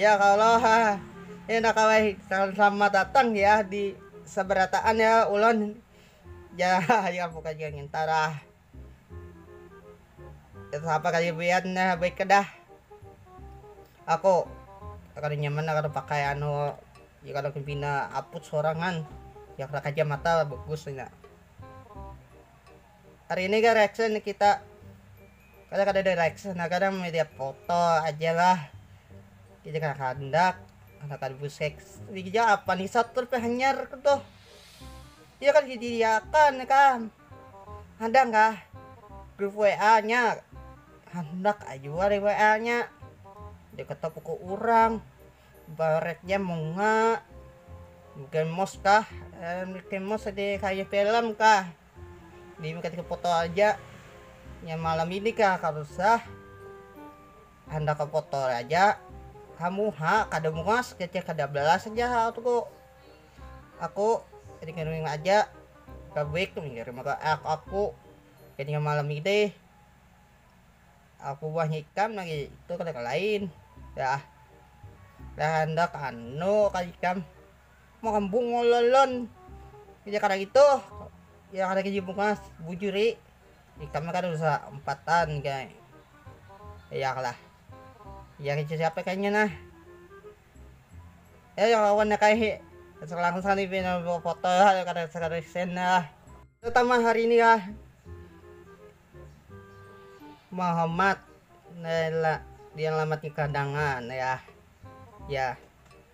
Ya kalo ha ya nda kawa hi selamat datang ya di sabarataan ya ulon ja ya bukan ja nginta lah apa kaya pian nah baik kada aku kada nyaman nah kada pakai anu ya kada ku pina aput sorangan yak ra kacamata bagus inya hari ini ga reaction kita. Kada kada direksa nah kada media foto aja lah kita kada kahandak kada kada buseks dikijang apa nih satur pe hanyar ku tuh iya kan diakan nih kan ada kah grup wa nya handak ai jua di wa nya di ketop ku urang baretnya munga mikei mos kah mikei mos di kayu pelem kah. Mimikati foto aja nya malam ini kah ka rusah handak ka foto aja ha muha kada muas kece kada balas aja ha aku, aku ringing-ringing aja babrik mengirim ka aku jadinya malam ini aku buahnya ikam lagi itu kada kalain dah handak anu ka ikam. mambung ngololon jadi kada itu ya kada kaji bungas bujuri ikam kada usah umpatan kaya yak lah ya kaya siapa kayanya nah ya yang lawan nya kaya foto kada sresen lah terutama hari ini lah mahamat dialamat di kadangan yah yah.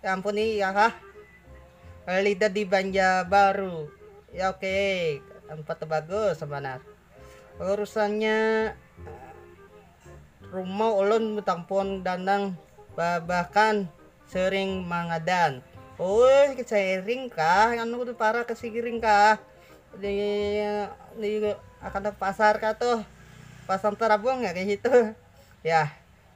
Ya ampun nih ya ha. Lida di Banjarbaru. Ya oke, okay. tempat bagus sebenarnya. Urusannya rumah ulun tampun danang bahkan sering mangadan. Oh, sering kah? Anu di para ke siring kah? Di, di akan pasar kah tuh? Pasar terabung ya kayak gitu. Ya,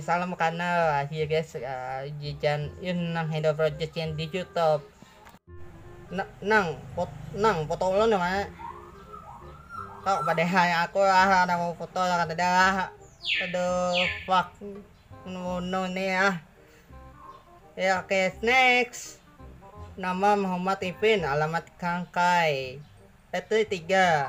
Salam kanal akhir guys uh, jijan in nang handle project yang di YouTube. N nang pot nang foto ulun ya mana? Kau pada hai aku lah ada mau foto lah kata dia lah. Aduh fuck no nih ah. Ya oke okay, next. Nama Muhammad Ipin, alamat Kangkai. Petri 3.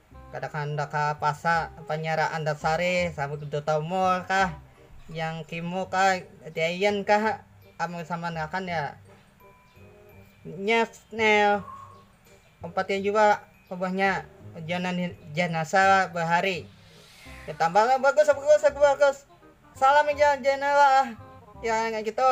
Kada kahandak ka pasar Panyara Antasari, Sabtu Duta Mall kah, Yang Kimo kah, Giant kah, amun samanakan ya nyet nel umpatnya jua ubahnya janan janasa bahari ditambah bagus bagus bagus salam ja janala ah yang kaya gitu.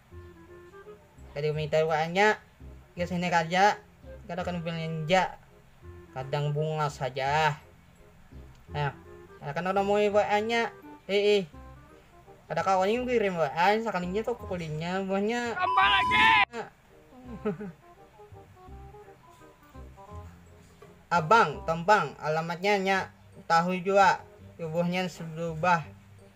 Kada kumintai uangnya, ikam sini karja, kada kena belanja, kadang bungas haja. Nah, kada kena namui WA-nya, iih. Kada kawa lagi kukirim WA, sakalinya kupukulinya buhannya. Abang, tompang, alamatnya nyak tahu jua, tubuhnya sudah berubah.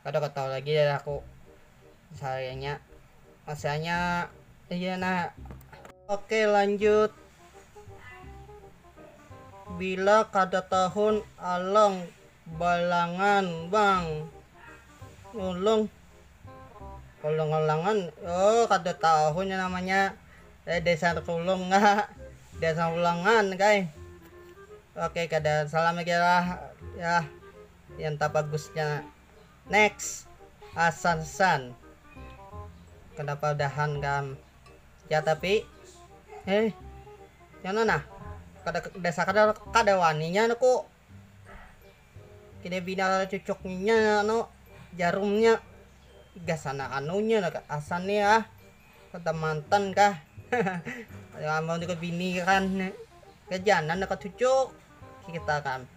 Kada katahu lagi deh aku sehariannya masanya iya nah. Ok lanjut bila kada tahun alang balangan bang nulung alang alangan oh kada tahu nya namanya eh desa tulung ngah desa ulangan kah eh ok kada salam lagi lah yah. Yang tabagusnya next Hasan San kenapa udahan kam ya tapi eh nyana nah kada desa kada kada wani nya nuku kini bina cucuk nya anu jarumnya gasan anunya lah hasan ni ah kada mantan kah amun ikam bini kan gajanan ikam cucuk kita kan.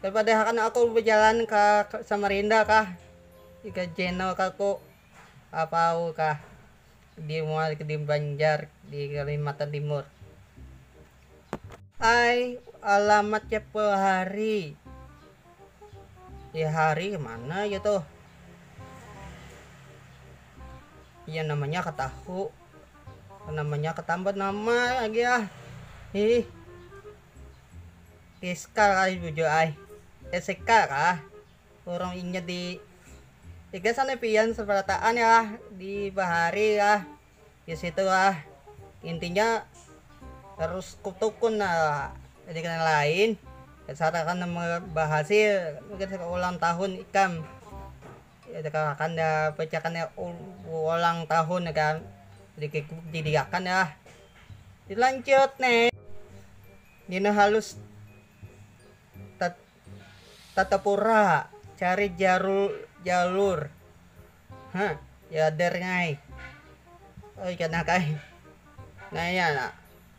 Daripada akan aku bajalan ka Samarinda kah, ka Jeno kah ku, apa au kah di mual di Banjar di Kalimantan Timur. Ai, alamat siapa hari? Ya hari mana aja tuh? Ya namanya ka tahu, namanya ka tambat nama lagi ah, hih. Iskal ai bujur ai. Ya sekar ah, urung inya di iga sana pian seberataan ah di bahari ah di situ ah intinya harus kutukun ah di kena lain kesarakan bahasil mungkin saka ulang tahun ikam kesarakan bacakan ulang tahun ikam jadi diakan ah dilanjut ne. Dina halus tatapura cari jalur ha yader ngai oi kena kai naya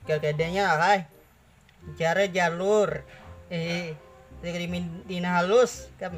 kekedenya kai cari jalur dina halus kam.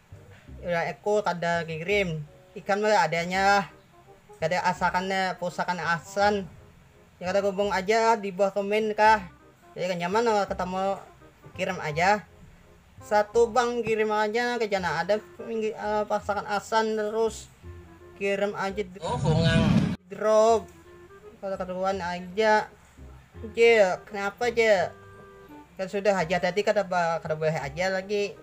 Ulah aku kada ngirim. Ikam lah adanya lah. Kada asakan pusakan Ahsan. Ya kada gubung aja lah di buah kemin kah. Jadi kada nyaman lah katamu kirim aja. Satu bang kirim aja ke jana ada pasakan Ahsan terus. Kirim aja drop. Kada karuan aja. Cil, kenapa cil. Kan sudah haja tadi kada boleh aja lagi.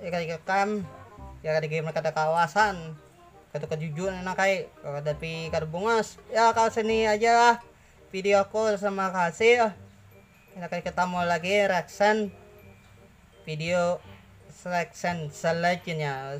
Ikaikikan ya kada gimana kada kawasan kaitu kajujuran nang kai tapi kada bungas ya ka sini aja lah videoku terima kasih sampai ketemu lagi reaction video reaction selanjutnya.